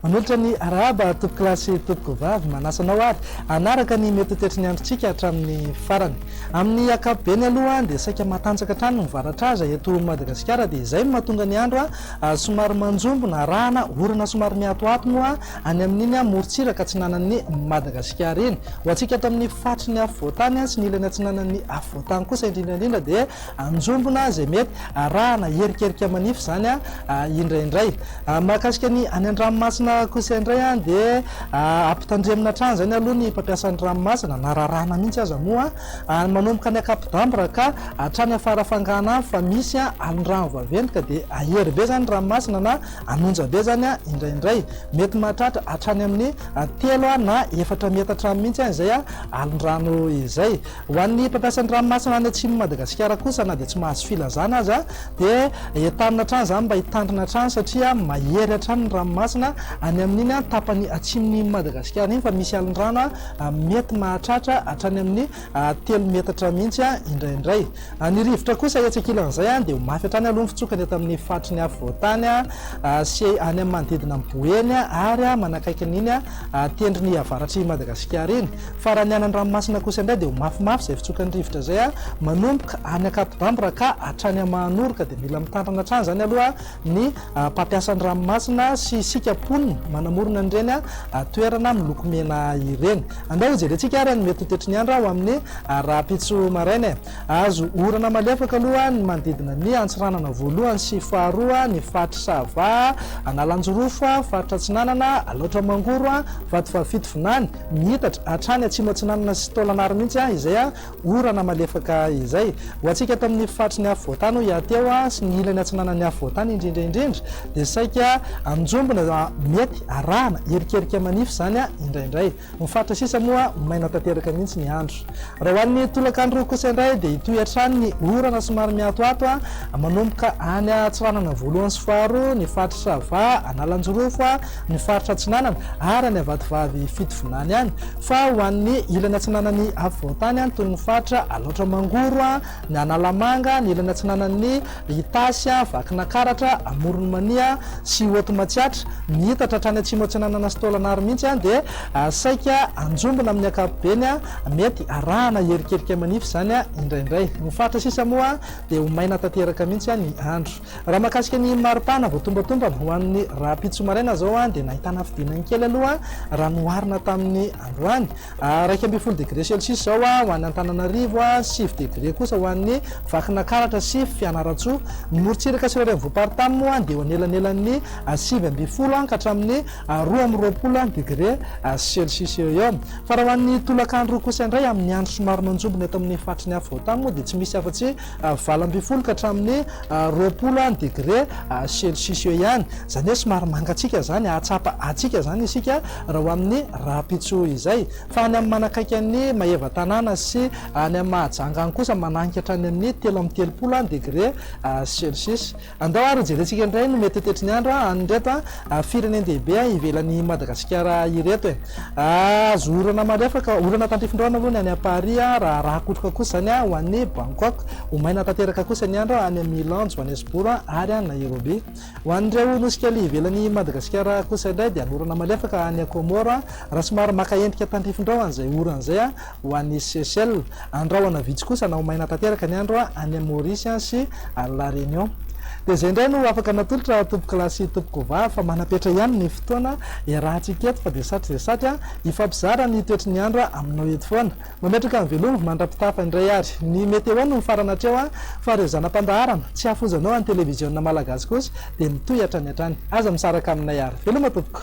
Manohitra ny arahaba toko kilasy toko vavy manasa anao ary anaraka ny mety ho toetry ny androntsika hatramin'ny farany. Amin'ny ankapobeny aloha dia saika matanjaka hatrany ny varatraza eto Madagasikara dia izay no mahatonga ny andro somary manjombona arahana orana somary miatoato moa any amin'iny morontsiraka atsinanan'ny Madagasikara iny. Ho antsika ato amin'ny faritry ny afovoantany sy ny ilany atsinanan'ny afovoantany kosa indrindra indrindra dia anjombona izay mety arahana erikerika manify izany indraindray. Mahakasika ny any an-dranomasina kosa indray dia ampitandremina hatrany izany aloha ny mpampiasa ny ranomasina na raràna mihitsy aza moa manomboka any Ankapodamory ka hatrany Farafangana any fa misy alin-drano vaventy ka dia ahery be izany ny ranomasina na An'onja be izany indraindray. Mety mahatratra hatrany amin'ny telo na efatra metatra any mihitsy izay alondrano izay. Ho an'ny mpampiasa ny ranomasina any atsimon'i Madagasikara kosa na dia tsy mahazo filazana aza dia entanina hatrany izany mba hitandrina hatrany satria mahery hatrany ny ranomasina any amin'iny tapany atsimon'i Madagasikara iny fa misy alondrano mety mahatratra hatrany amin'ny a telo metatra mihitsy a indraindray. A ny rivotra kosa etsy ankilan'izay a dia ho mafy hatrany aloha ny fitsokany eto amin'ny faritry ny afovoantany a sy any amin'ny manodidina an'i Boeny a ary a manakaiky an'iny a tendrony avaratr'i Madagasikara iny. Fa raha ny any an-dranomasina kosa indray dia ho mafimafy izay fitsokan'ny rivotra izay a manomboka any Ankapodanbo ra ka hatrany Mahanoro ka dia mila mitandrina hatrany izany aloha ny mpampiasa ny ranomasina sy isika mponina manamorona an'ireny toerana miloko mena ireny. Andeha hojerentsika ary ny mety ho toetry ny andro ho amin'ny rahampitso maraina e! Hahazo orana malefaka aloha ny manodidina ny Antsiranana voalohany sy faharoa, ny faritry Sava, Analanjirofo, faritra Atsinanana, Alaotra Mangoro, Vatovavy Fitovinany, Miitatra, hatrany Atsimo Atsinanana sy Taolagnaro mihitsy izay Orana malefaka izay. Ho antsika eto amin'ny faritry ny afo voatany hoy aho teo sy ny ilany atsinanan'ny afo voatany indrindra indrindra dia saika anjombona mety arahana erikerika manify izany indraindray. Ny faritra sisa moa maina tanteraka mihitsy ny andro. Raha ho an'ny tolakandro kosa indray dia hitohy hatrany ny orana somary mihatohato manomboka any Antsiranana voalohany sy faharoa, ny faritra Sava, Analanjirofo, ny faritra atsinanana ary any Avatovavy Fitovinany any. Fa ho an'ny ilany atsinanan'ny afovoan-tany any toy ny faritra Alaotra Mangoro, ny Analamanga, ny ilany atsinanan'ny Itasy, Vakinakaratra, Amoron'i Mania sy Haute Matsiatra, mihitatra hatrany atsimo atsinanana sy Tôlanaro mihitsy dia saika hanjombona amin'ny ankapobeny mety arahana herikerika manify izany indraindray. Ny faritra sisa moa dia ho maina tanteraka mihitsy ny andro. Raha mahakasika ny maripana voatombatombana ho an'ny rahampitso maraina izao dia nahitana fidinany kely aloha raha noharina tamin'ny androany. Iraika ambin'ny folo degre celsius izao ho any Antananarivo, sivy degre kosa ho an'ny Vakinakaratra sy Fianarantsoa. Ny morontsiraka sy ireo renivohi-paritany moa dia eo anelanelan'ny sivy ambin'ny folo ka hatramin'ny roa amby roapolo degre celsius eo eo. Fa raha ho an'ny tolakandro kosa indray amin'ny andro somary manjombona eto amin'ny faritry ny afovoan-tany moa dia tsy misy afa-tsy valo ambin'ny folo ka hatramin'ny roapolo degré celcius eo ihany, izany hoe somary mangatsiaka izany, hahatsapa hatsiaka izany isika raha ho amin'ny rahampitso izay, fa any amin'ny manakaiky an'i Maevatanàna sy any amin'ny Mahajanga any kosa manainga hatrany amin'ny telo amby telopolo degré celcius. Andao ary hojerentsika indray ny mety ho toetry ny andro any ireto firenen-dehibe ivelan'i Madagasikara ireto e! Azo orana marefaka, orana tandrifin-drano aloha ny any Paris, raha rakotroka kosa izany ho any Bangkok. Ho maina tanteraka kosa ny andro any Milan, Johannesburg ary Nairobi. Ho an'ireo nosy kely ivelan'i Madagasikara kosa indray dia hanorana malefaka any Comores, raha somary maka endrika tandrifin-drano an'izay orana izay Ho an'i Seychelles, andrahona vitsy kosa na ho maina tanteraka ny andro any amin'i Maorisy sy any La Réunion. Dia izay indray no afaka natolotra tompokolahy sy tompokovavy fa manam-petra ihany ny fotoana iarahantsika eto fa dia satry dia satry hifampizara ny toetry ny andro aminao eto foana. Mametraka ny veloma mandra-pitafa indray ary ny météo no mifarana hatreo fa ireo zana-pandaharana tsy hafozanao any televiziona malagasy kosa dia mitohy hatrany hatrany. Aza misaraka aminay ary. Veloma tompoko.